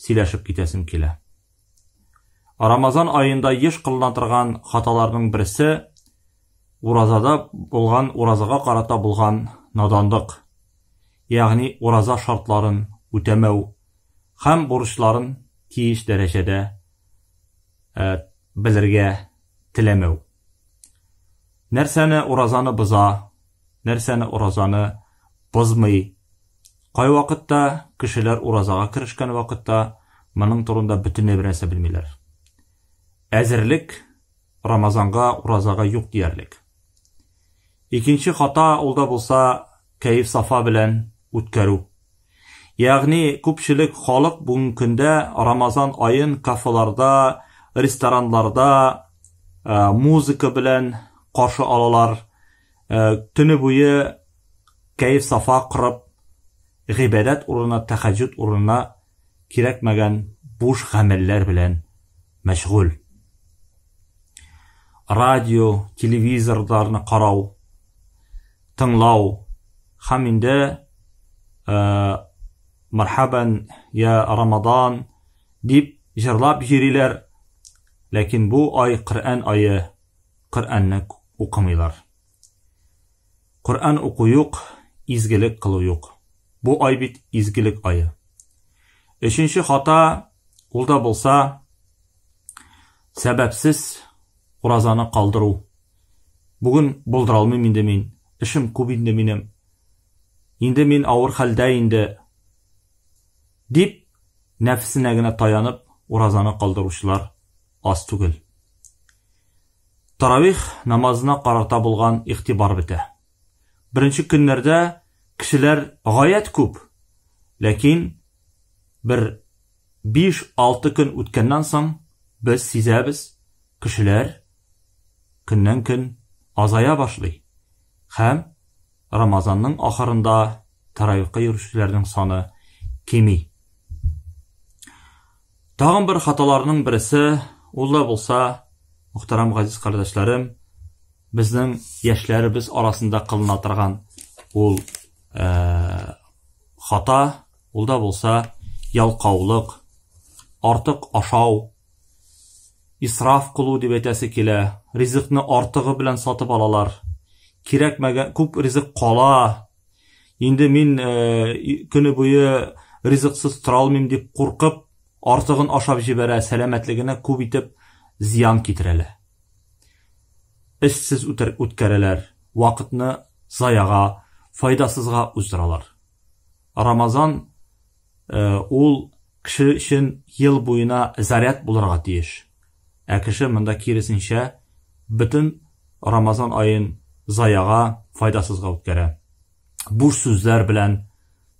Сөйләшеп китәсем килә. Рамазан аенда еш кылына торган хаталарның берсе уразада булган уразага карата булган надандык, ягъни ураза шартларын үтәмәү һәм бурычларын тиеш дәрәҗәдә э, белергә теләмәү. Нәрсәне уразаны боза, нәрсәне уразаны бозмый. Кайвакытта кешеләр уразага керешкән вакытта моның турында бөтенләй бернәрсә белмиләр. Әзерлек Рамазанга, уразага юк диярлек. Икенче хата ул да булса кәеф сафа белән үткәрү. Ягъни күпчелек халык бүгенге көндә Рамазан аен кафеларда, рестораннарда э, музыка белән каршы алалар. Э, төне буе кәеф сафа корып, гыйбадәт урынына, тәхәҗҗүд урынына кирәкмәгән буш гамәлләр белән мәшгуль. Радио, телевизорларны карау, тыңлау һәм инде э, мархабан я Рамадан дип җырлап йөриләр. Ләкин бу ай Коръән ае Коръәнне укымыйлар. Коръән уку юк, изгелек кылу юк. Бу ай бит изгелек ае. Өченче хата, ул да булса, сәбәпсез уразаны калдыру. Бүген булдыра алмыйм инде мин, эшем күп инде минем. Инде мин авыр хәлдә инде. Дип, нәфсенә генә таянып, уразаны калдыручылар аз түгел. Таравих намазына карата булган игътибар бетә. Беренче көннәрдә кешеләр гаять күп, ләкин бер 5-6 көн үткәннән соң без сизәбез, кешеләр көннән-көн азая башлый һәм Рамазанның ахырында Тәрәвихка йөрүчеләрнең саны кими. Тагын бер хаталарның берсе, ул да булса, мөхтәрәм газиз кардәшләрем, безнең яшьләребез арасында кылына торган ул э, хата, ул да булса ялкаулык, артык ашау, исраф кылу дип әйтәсе килә, ризыкны артыгы белән сатып алалар. Кирәкмәгән күп ризык кала, Инде мин көне буе ризыксыз тора алмыйм дип куркып, артыгын ашап җибәрә, сәламәтлегенә күп итеп зыян китерәләр. Эшсез үткәрәләр, вакытны заяга, файдасызга уздыралар. Рамазан Ул кеше өчен ел буена заряд булырга тиеш. Ә кеше монда киресенчә бөтен Рамазан аен заяга, файдасызга үткәрә. Буш сүзләр белән,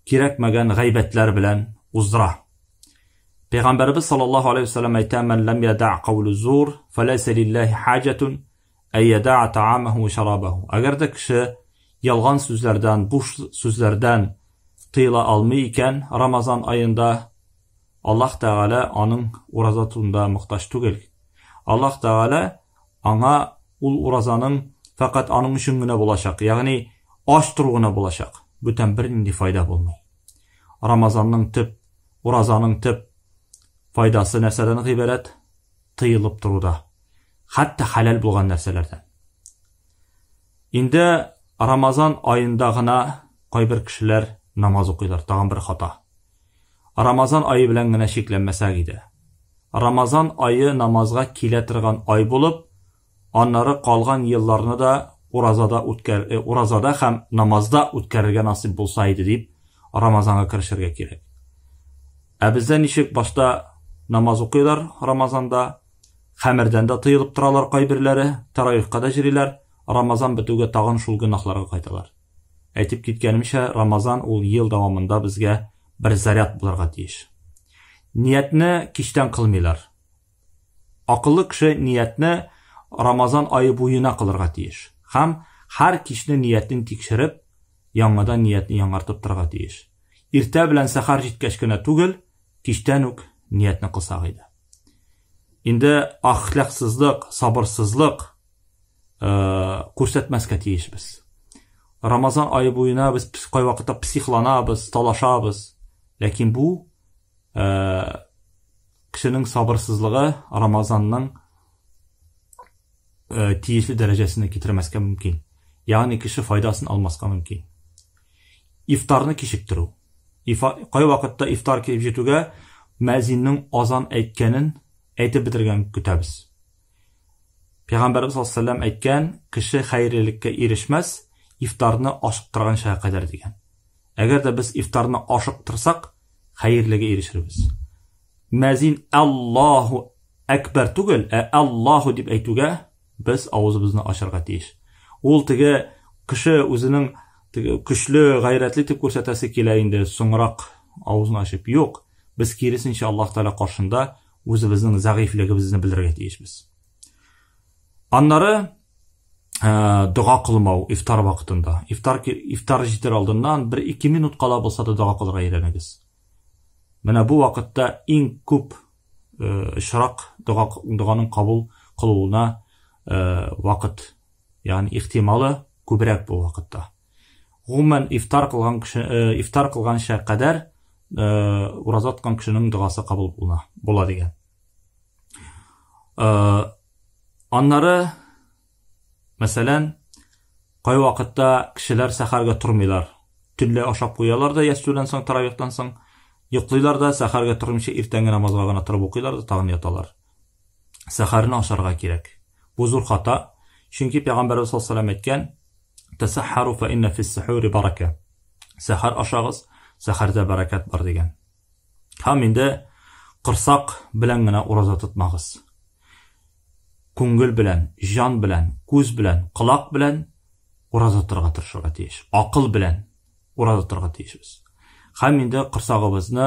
кирәкмәгән гайбәтләр белән уздыра. Пәйгамбәребез саллаллаһу алейһи ва саллям әйтә: "Мән ләм ядә каулу зур, фалайса лиллаһи хаҗатун әйядаа таамаху ва шарабаху. Әгәр дә кеше ялган сүзләрдән, буш сүзләрдән тыела алмый икән Рамазан аенда, Аллаһ Тәгалә аның ураза тутында мохтаҗ түгел. Аллаһ Тәгалә аңа ул уразаның фәкать аның өчен генә булачак, ягъни ач тору гына булачак. Бүтән бернинди файда булмый. Рамазанның төп, уразаның төп файдасы нәрсәдән гыйбарәт? тыелып тору да, хәтта хәләл булган нәрсәләрдән. Инде Рамазан аенда гына кайбер кешеләр намаз укыйлар, тагын бер хата. Рамазан айы белән генә чикләнмәсәк иде. Рамазан айы намазга килә торган ай булып, Аннары калган елларны да уразада үткәр, э, уразада һәм намазда үткәрергә насыйп булса иде дип, Рамазанга керешергә кирәк. Ә бездә ничек башта намаз укыйлар Рамазанда, хәмердән дә тыелып торалар кайберләре, тараихка да җөриләр, Рамазан бетүгә тагын шул гөнаһларга кайталар. Әйтеп киткәнемчә, Рамазан ул ел дәвамында безгә бер заряд булырга тиеш. Ниятне кичтән кылмыйлар. Акыллы кеше ниятне Рамазан ае буена кылырга тиеш һәм һәр кичне ниятен тикшереп, яңадан ниятне яңартып торырга тиеш. Иртә белән сәхәр җиткәч кенә түгел, кичтән үк ниятне кылсак иде. Инде ахлаксызлык, сабырсызлык күрсәтмәскә тиешбез. Рамазан ае буена без кайвакытта психланабыз, талашабыз, ләкин бу кешенең сабырсызлыгы Рамазанның э, тиешле дәрәҗәсенә китермәскә мөмкин. Ягъни кеше файдасын алмаска мөмкин. Ифтарны кичектерү. Кай вакытта ифтар килеп җитүгә мәзиннең азан әйткәнен әйтеп бетергән көтәбез. Пәйгамбәрбез саллаллаху әйткән, кеше хәерлелеккә ирешмәс, ифтарны ашыктырганча кадәр дигән. Әгәр дә без ифтарны ашыктырсак, хәерлегә ирешербез. Мәзин Аллаһу әкбәр түгел, ә Аллаһу дип әйтүгә без авызыбызны ачарга тиеш. Ул теге кеше үзенең теге көчле, гайрәтле дип күрсәтәсе килә инде, соңрак авызын ачып. Юк, без киресенчә Аллаһ Тәгалә каршында үзебезнең зәгыйфьлегебезне белдерергә тиешбез. Аннары Э, дога кылмау ифтар вакытында. Ифтар ифтар җитер алдыннан 1-2 минут кала булса да дога кылырга өйрәнегез. Менә бу вакытта иң күп э, очрак дога доганың кабул кылуына э, вакыт, ягъни ихтималы күбрәк бу вакытта. Гомумән ифтар кылган кеше ифтар кылганча кадәр уразаткан кешенең догасы кабул була, була дигән. Э, аннары, мәсәлән, кай вакытта кешеләр сәхәргә тормыйлар. Төнлә ашап куялар да ястүдән соң, таравихтан соң, йоклыйлар да, сәхәргә тормыйча иртәнге намазга гына торып укыйлар да тагын яталар. Сәхәрне ашарга кирәк. Бу зур хата, чөнки пәйгамбәрбез саллаллаху алейһи әйткән: "Тасахару фа инна фис сахури барака". Сәхәр ашагыз, сәхәрдә бәрәкәт бар дигән. Һәм инде корсак белән генә ураза тотмагыз. Күңел белән, җан белән, күз белән, колак белән ураза торга тырышырга тиеш. Акыл белән ураза торга тиешбез. Һәм инде корсагыбызны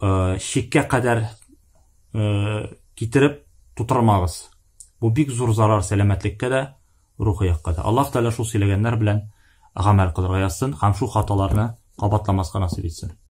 э, шиккә кадәр э, китереп тутырмагыз. Бу бик зур зарар сәламәтлеккә дә, рухи якка да. Аллаһ Тәгалә шул сөйләгәннәр белән гамәл кылырга язсын һәм шул хаталарны кабатламаска насыйп итсен.